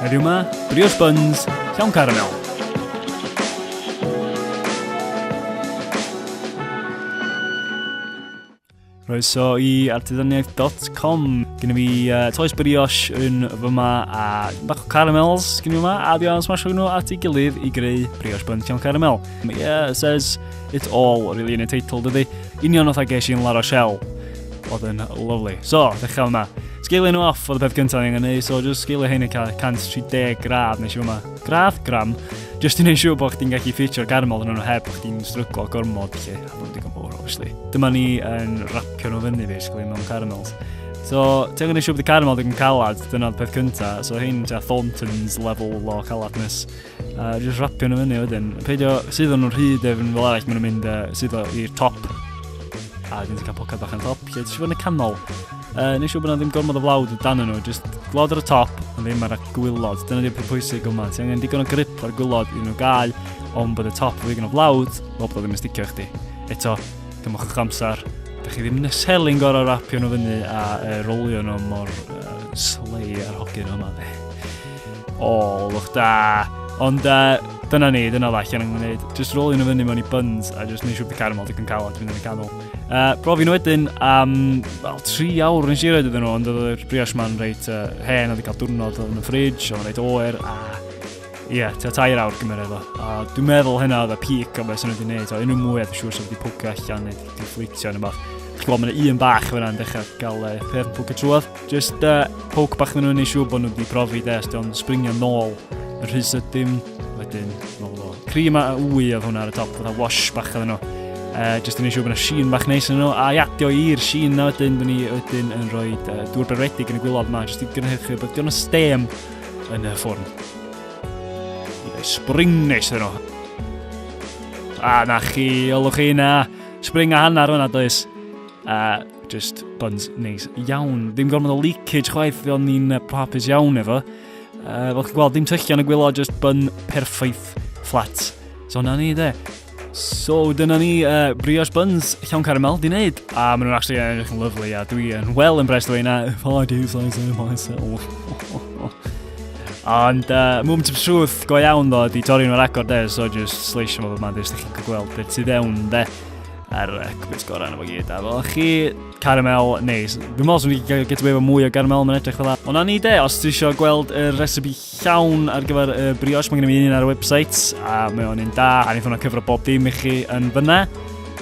Heddiw yma, Brios Buns, Llawn Caramel. Croeso i artiddaniaeth.com. Gyn i fi uh, toes brioche yn fy ma a bach o caramels gyn i yma a di o'n smasho nhw at ei gilydd i greu brioche bun llawn caramel. Yeah, it says it all really yn y teitl dydy. Union oedd a ges i'n Lara Shell. Oedd yn lovely. So, ddechrau yma. Sgeilio nhw off oedd y peth gyntaf ni'n gwneud, so just sgeilio hyn yn cael 130 gradd nes i yma. Gradd, gram, just i wneud siŵr bod chdi'n gallu ffitio'r garmol yn nhw heb bod chdi'n stryglo gormod, lle. A bod digon fawr, obviously. Dyma ni yn rapio nhw fyny, basically, mewn caramels. So, ti'n gwneud siŵr bod y caramel digon calad, dyna'r peth cyntaf. So, hyn, ti'n Thornton's level o caladness. A uh, just rapio nhw fyny wedyn. Peidio sydd o'n nhw'n rhy defn fel arall, maen nhw'n mynd uh, sydd i'r top. A dyn ti'n cael pocad bach yn top, lle ti'n siŵr yn y canol. Uh, nes siŵr bod yna ddim gormod o flawd dan nhw, just glod ar y top, ond ddim ar y gwylod. Dyna ddim pwysig yma. Ti angen digon o grip ar gwylod i nhw gael, ond bod y top yn ddigon o flawd, fel bod o ddim yn sticio chdi. Eto, dymwch o'ch amser, Dych chi ddim neselyn gorau rapio nhw fyny a uh, rolio nhw mor uh, slei ar hogyn yma dde. O, lwch da. Ond uh, dyna ni, dyna fe allan yn gwneud. Just roll yn y fyny mewn i buns a just neud siwr bod caramel digon calon dwi'n mynd yn y canol. Uh, brofi nhw wedyn am well, tri awr yn siarad iddyn nhw, ond oedd y brioche ma'n reit uh, hen, oedd i cael diwrnod yn y ffridge, oedd yn reit oer, a ie, yeah, ti'n tair awr gymryd efo. A dwi'n meddwl hynna oedd y peak o beth sy'n wedi gwneud, o unrhyw mwy a dwi'n siŵr sy'n wedi pwcio allan neu wedi fflitio neu beth. Chi'n gweld, mae'n un bach fyna yn dechrau gael uh, peth pwcio trwodd. Just uh, poke bach na nhw'n ei siŵr bod nhw wedi profi de, os di'n springio nôl y rhys ydym, wedyn, fel fo. Cream a wy oedd hwnna ar y top, fatha wash bach oedd nhw. Uh, just yn ei siŵr bod yna sheen bach neis yn nhw, a i adio i'r sheen na wedyn, dyn ni wedyn yn rhoi uh, dŵr beredig yn y gwylod yma, just i gynhyrchu bod diolch yn stem yn y ffwrn. Spring neis yn nhw. A na chi, olwch chi na, spring a hanner hwnna does. Uh, Just buns neis iawn. Ddim gormod o leakage chwaith, fe o'n ni'n hapus iawn efo. Uh, fel chi'n gweld, ddim tyllion y gwylod, just bun perffaith fflat. So na ni, de. So, dyna ni uh, brioche buns llawn caramel di wneud. A maen nhw'n actually edrych yn lyflu, a dwi yn well impressed o hynna. If I do so myself. Ond uh, moment of truth go iawn ddo, di torri nhw'n agor de, so just sleisio fo fy man, dys chi'n gweld beth sydd ewn de. Ar y cwis gorau yna fo gyd. A fel chi, caramel neis. Dwi'n meddwl sy'n fi get away efo mwy o caramel, mae'n edrych fel Ond na ni de, os ti eisiau gweld y recipe llawn ar gyfer y brioche, mae gen i fi un ar y website, a mae o'n un da, a ni'n ffynno cyfro bob dim i chi yn fyna.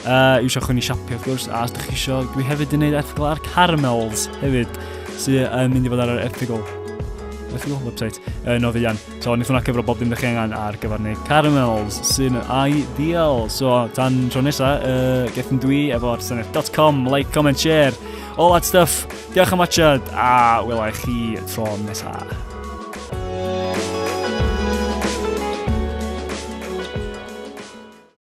Uh, eisiau chwn i siapio, wrth gwrs, a os ydych chi eisiau, dwi hefyd yn gwneud erthigol ar caramels hefyd, sy'n mynd i fod ar yr erthigol, erthigol website, yn o fi So, wnaethon nhw cyfro bob dim da chi angen ar gyfer neu caramels sy'n ideal. So, tan tro nesa, uh, gethyn dwi efo'r senedd.com, like, comment, share, all that stuff. Diolch am watchad, a wela i chi tro nesaf.